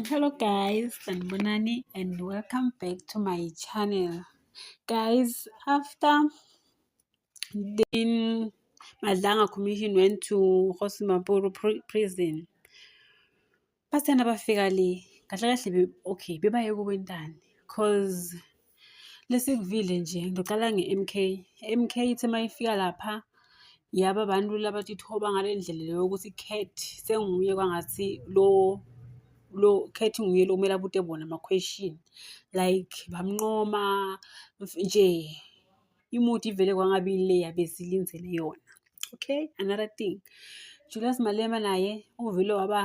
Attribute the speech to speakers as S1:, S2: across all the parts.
S1: Hello guys, sanibonani and welcome back to my channel. Guys, after the Madlanga Commission went to Hosimapuru prison, bathanda bafika le kahle kahle okay bebaye kubo intani cause Lesikuvile nje ngiqala nge-M_K. I-M_K ithe uma ifika lapha yaba abantu laba tithoba ngale ndlela le yokuthi Cat senguye kwangathi lo lo Cat nguye lo kumele abute bona ama-question like bamnqoma nje imudi ivele kwangabi le yabe silindele yona. Okay, another thing Julius Malema naye uvele waba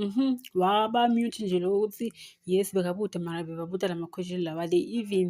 S1: Mhm. Waba mute nje lo ukuthi yes bekabude mara bebabuda la ma-question lawa. They even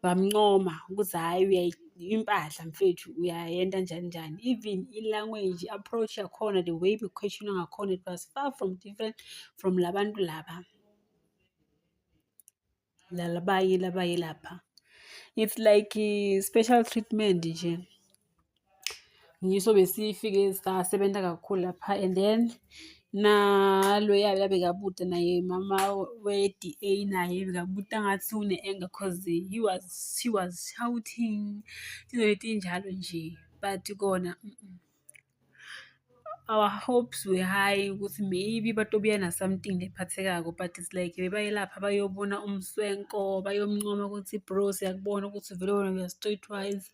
S1: bamncoma ukuthi hhayi uyayi impahla mfethu uyayenta njani njani. Even i-language, i-approach yakhona, the way be-question-wa ngakhona it was far from different from la bantu laba. labayile abayilapha it's like eh, special treatment nje ngiso besifike sasebenza kakhulu lapha and then naloya bekabute naye mama we-DA naye bekabute angathi une-anger cause he was she was shouting izinto ezinjalo nje but kona mm -mm. our hopes were high ukuthi maybe batobuya na something lephathekako but it's like bebayelapha bayobona umswenko bayomncoma ukuthi bro siyakubona ukuthi vele wena uya straight wise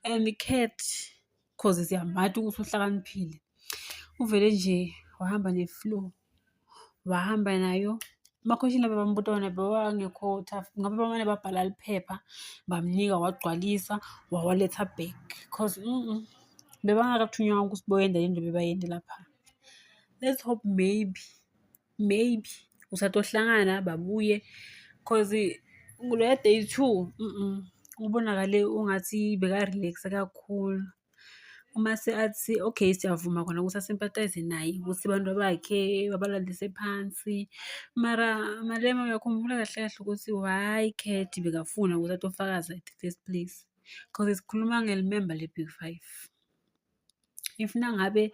S1: and the cat cause siyamatha ukuthi uhlakaniphile uvele nje wahamba ne-flow wahamba nayo emakhosini laba bambuta wona bewangekho tough ngabe bamane babhala liphepha bamnika wagcwalisa wawaletha back cause mm -mm. bebangakathunywa ukuthi boyenda le nto bebayende lapha let's hope maybe maybe usatohlangana babuye cause kuloya day two mm -mm. ubonakale ungathi bekarelaxe kakhulu Uma seathi okay siyavuma khona ukuthi asimpathayize naye ukuthi abantu bakhe babalalise phansi. Mara Malema uyakhumbula kahle kahle ukuthi why Cat bekafuna ukuthi athi ofakazi at the first place. Cause sikhuluma ngelimemba le-big five. If nangabe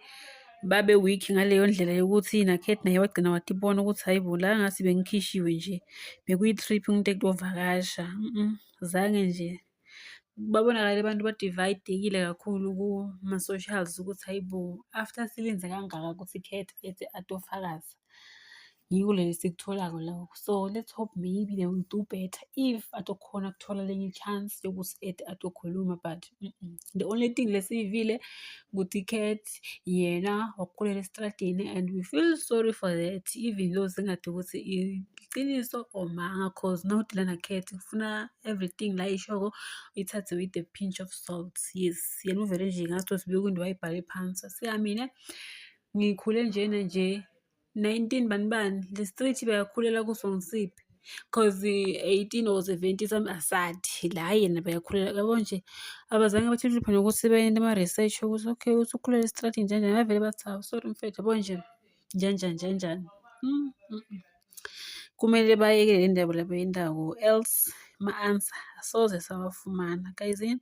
S1: babe weak ngaleyo ndlela yokuthi nakhet naye wagcina wathi bona ukuthi hayi bo la ngathi bengikhishiwe nje bekuyi-trip umuntu ekuyovakasha zange nje Babonakale abantu ba-divide-ekile kakhulu kuma-socials ukuthi hhayi bo, after silinda kangaka ukuthi ikhethe ethi atofakaza. Yiko leli esikutholako la, so let's hope maybe they will do better if atokhona ukuthola elinye i-chance yokuthi ede atokhuluma but the only thing lesiyivile ukuthi ikhethe. yena wakukhulele esitradini and we feel sorry for that even though singathi ukuthi iqiniso or manga cause not lana cat kufuna everything la ishoko ithathe with a pinch of salt yes yena uvele nje ngathi sibuye kwinto wayibhale phansi siyamine ngikhule njena nje 19 bani bani le street bayakhulela kuso ngisiphi cause 18 or 70 some asathi la yena bayakhulela yabo nje abazange batshitshiphe nokuthi bayende ama-research ukuthi okay uthi ukhulele estrati njenjani bavele bathi hawu sorry mfethu yabo nje njenjani njenjani mm, mm, mm. kumele bayekele le ndaba labo yendawo else ma-answer asoze sawafumana kayizini